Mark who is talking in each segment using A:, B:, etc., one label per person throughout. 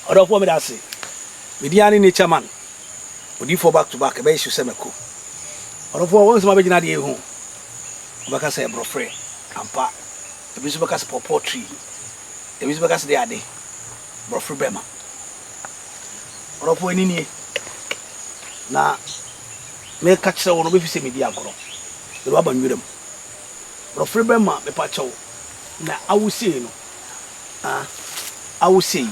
A: ɔdɔfoɔ meda ase medin ane nature man odiifoɔ back to back ɛbɛyɛ su sɛ mako ɔdɔfoɔ wɔn nsɛm abɛgyina deɛ ɛhu wobɛka sɛ borɔfrɛ ampa ebi nso bɛka sɛ pɔpɔ tree ebi nso bɛka sɛ deɛ ade borɔfrɛ bɛma Ɔdɔfoɔ ɛno nie na meka kyerɛ wo no wobɛfi sɛ medi agorɔ mede waba nwura mu brɔfere bɛma mepa kyɛw na awosei no awosei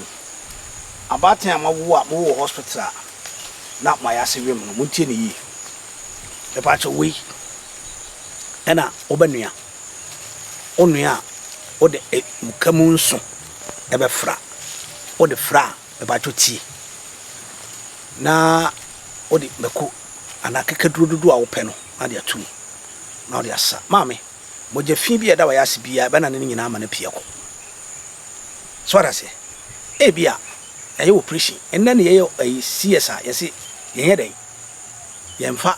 A: abaatan a mawo a mowɔ hospital a na mayɛ ase wem no montie ne yie mepa kyɛw wei ɛna wobɛnua wonua a wode e, muka mu nso ɛbɛfra. Wode fra a, mepakyɛw tie na wode mako anaa akekaduro dodoɔ a wopɛ no na de ato mu na wode asa. Maame, mogya fi bi a ɛda w'ayase biara ɛbɛnane no nyinaa ama no apue akɔ. So wate aseɛ? Ebi a ɛyɛ operation. Nnɛ ne yɛyɛ ɛyi CS a yɛse yɛnyɛ dɛn? Yɛmfa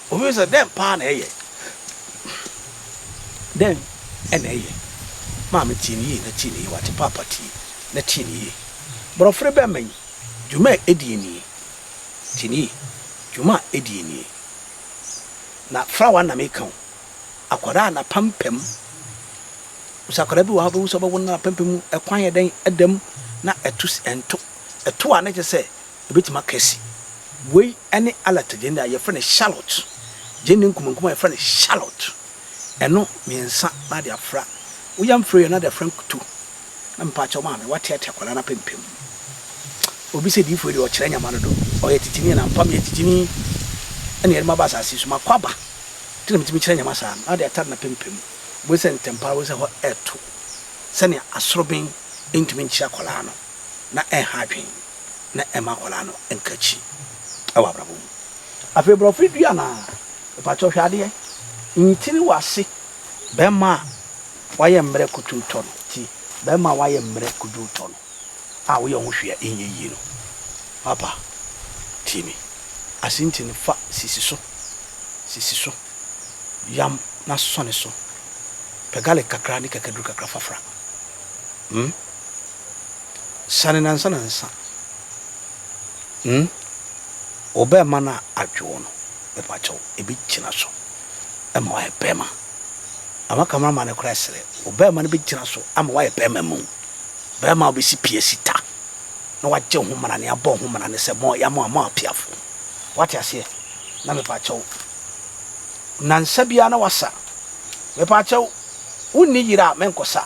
A: Obi sɛ, Dɛn paa na ɛyɛ? Dɛn na ɛyɛ? Maame, tie no yie na tie no yie, wate? Paapa, tie na tie no yie. Borɔfere bɛmma yi, dwuma a ɛdie nie. Tie no yie, dwuma a ɛdie nie. Na fra w'ana meka o. Akwadaa a n'apampam, wo sɛ akwadaa bi wɔ ha wobɛhu sɛ ɔbɛwo no na n'apampam mu kwan yɛ dɛn, ɛda mu na ɛto si, ɛnto. Ɛto a na kyerɛ sɛ. Ebetumi aka se, Woi ne Alert gyende a yɛfrɛ no Charlotte, gyende nkumankum a yɛfrɛ no Charlotte, ɛno mmiɛnsa na ade afra. Wo yam frɛ yɛ na ade afra nkutu. Na mepakyɛw maame, woateatea akwadaa no apempem mu. Obi se, Diyifoɔ yi deɛ ɔkyerɛ nyama dodo. Ɔyɛ titini ɛna mfa meyɛ titini ɛna yɛde maba asase yi so. Makɔ aba nti na metumi kyerɛ nyama saa. Na ade atare no apempem mu. Wobɛhu sɛ ntɛmpa ara wobɛhu sɛ hɔ reto sɛnea asoroben ntumi nkyere akwadaa no. na ɛnha adwene na ɛmma akwadaa no nka akyi wɔ abrabɔ mu. Afei borɔfo dua no ara, mepakyɛw hwɛ adeɛ, ntini wɔ ase, barima a wayɛ mmerɛ kutuu tɔ no ti, barima a wayɛ mmerɛ kuduu tɔ no a woyɛ wo ho hwee a ɛnyɛ yie no. Papa, tie me, ase nti no fa sisi so, sisi so, yam na sɔne so, pɛ garlic kakra ne kakaduru kakra fa fra. Hmm? Siane nansa nansa hmm Obɛɛma no a adwe wo no mepakyɛw ebi gyina so ma wayɛ bɛɛma Ama camera man no koraa srɛ Obɛɛma no bɛgyina so ama wayɛ bɛɛma mu Bɛɛma a ɔbɛsi pie si ta na wagye ho mmara ne abɔ ho mmara ne sɛ mo yɛ mo a mo apiafo Wate aseɛ na mepakyɛw nansa biara na wasa Mepakyɛw wonni yere a menkɔsa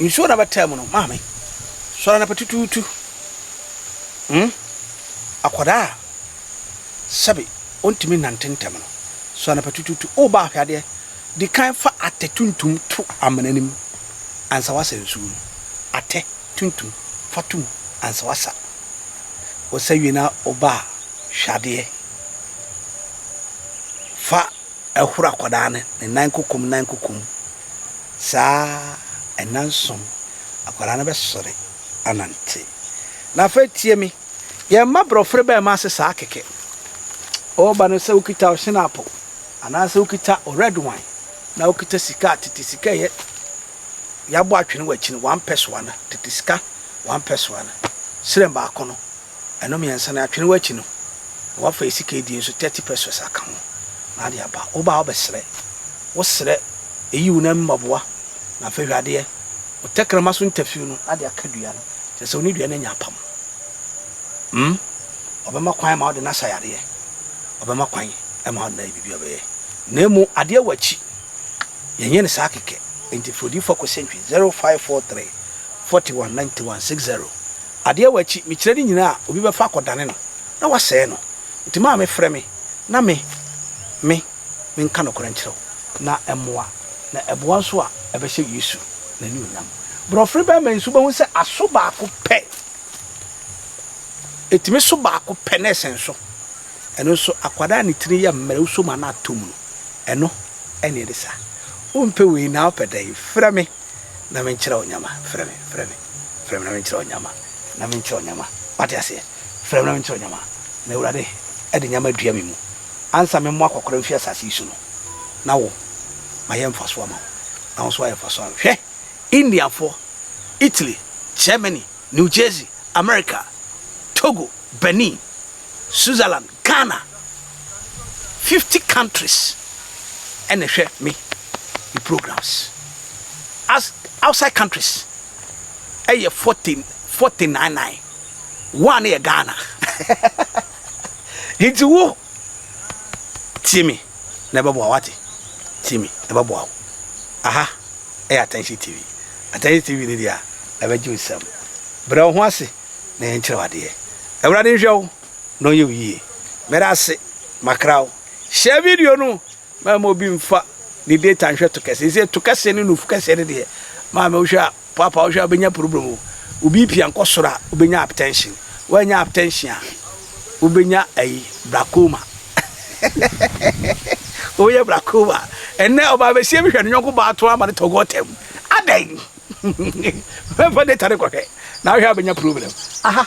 A: Nsuo na bɛtaa mu no maame sɔre anapa tutuutu hmm akwadaa sɛbi ɔntumi nante ntɛm no sɔre anapa tutuutu o ba ahwɛ adeɛ di kan fa atɛ tuntum to amena no mu ansa wasa nsuo no atɛ tuntum fa to mu ansa wasa wɔsa wie na ɔba hwɛ adeɛ fa ɛhoro akwadaa no ne nan kokom nan kokom saa ara nnanson akwadaa no bɛsɔre anante. Na afei tie me, yɛn mma borɔfere bɛn mma ase saa kɛkɛ. Ɔreba no sɛ wokita ɔhyenapo anaasɛ wokita red wine na wokita sika tete sika yɛ yɛabɔ atwene wɔ akyi no wampɛ soa no tete sika wampɛ soa no serɛn baako no Ɛno mmiɛnsa no atwene wo akyi no na wafa esika die nso thirty pesos aka ho na ade aba wo ba wobɛ srɛ wo srɛ eyi wo nan mu mɔboa na afei hwɛ adeɛ wo tɛkrɛma so ntafiw no ade aka dua no kyerɛ sɛ wo ne dua no anya apam mm ɔbɛma kwan ma ɔde no asa yareɛ ɔbɛma kwan ma ɔde no ayɛ biribi ɔbɛyɛ na emu adeɛ wɔ akyi yɛn yɛn saa kɛkɛ nti fo di fo kɔ sentry zero five four three forty one ninety one six zero Adeɛ wɔ akyi, mekyerɛ ne nyinaa a, obi bɛfa akɔdane no, na wasɛe no. Enti maame frɛ me, na me, me, menka nokorɛ nkyerɛ wo, na ɛmmoa, na ɛboa nso a, ɛbɛhyɛ Yesu n'anuonyam. Borɔfere barima yi nso, wobɛhu sɛ aso baako pɛ, ɛtumi so baako pɛ na ɛsɛn so. Ɛno nso, akwadaa a ne tiri yɛ mmerɛ, wosɔ mu a na atɔ mu no, ɛno na ɛde saa. Wompɛ wei na wopɛ dɛn? Frɛ me na menkyerɛ wo nneɛma. Frɛ me, frɛ me. Frɛ me na menkyerɛ wo nyama, na menkyerɛ wo nyama. Wate aseɛ? Frɛ me na menkyerɛ wo nyama. Na Awurade de nyama adua me mu. Ansa memmoa akɔkora mfiri asase yi so no, na wo, mayɛ mfasoɔ ama wo, na wo nso woayɛ mfasoɔ ama me. Hwɛ! Indiafoɔ, Italy, Germany, New Jersey, America, Togo, Benin, Switzerland, Ghana fifty countries na ɛhwɛ me me programs as outside countries ɛyɛ forty forty nine nine one no yɛ Ghana nti wo tie me na ɛbɛboa wate tie me na ɛbɛboa wo aha ɛyɛ attention tv attention tv ne deɛ a ɛbɛgye wo nsɛm brɛ wo ho ase na yɛnkyerɛ wo adeɛ awurade nhwɛ wo na ɔnyɛ wo yie. Meda ase makra wo. Share video no ma ɛma obi mfa ne data nhwɛ to kɛse. Ɛsɛ to kɛse ne nufu kɛse no deɛ maame wohwɛ a papa wohwɛ a wobɛnya problem o. Wo BP ankɔ soro a wobɛnya hypertension. Woanya hypertension a wobɛnya ayi glaucoma. Woyɛ glaucoma. Ɛnɛ ɔbaa bɛsie bi hwɛ ne nyɔnko baa to ama ne tɔ gɔtam. Adɛn? Mɛmfa data no kɔhwɛ na wohwɛ a wobɛnya problem. Aha.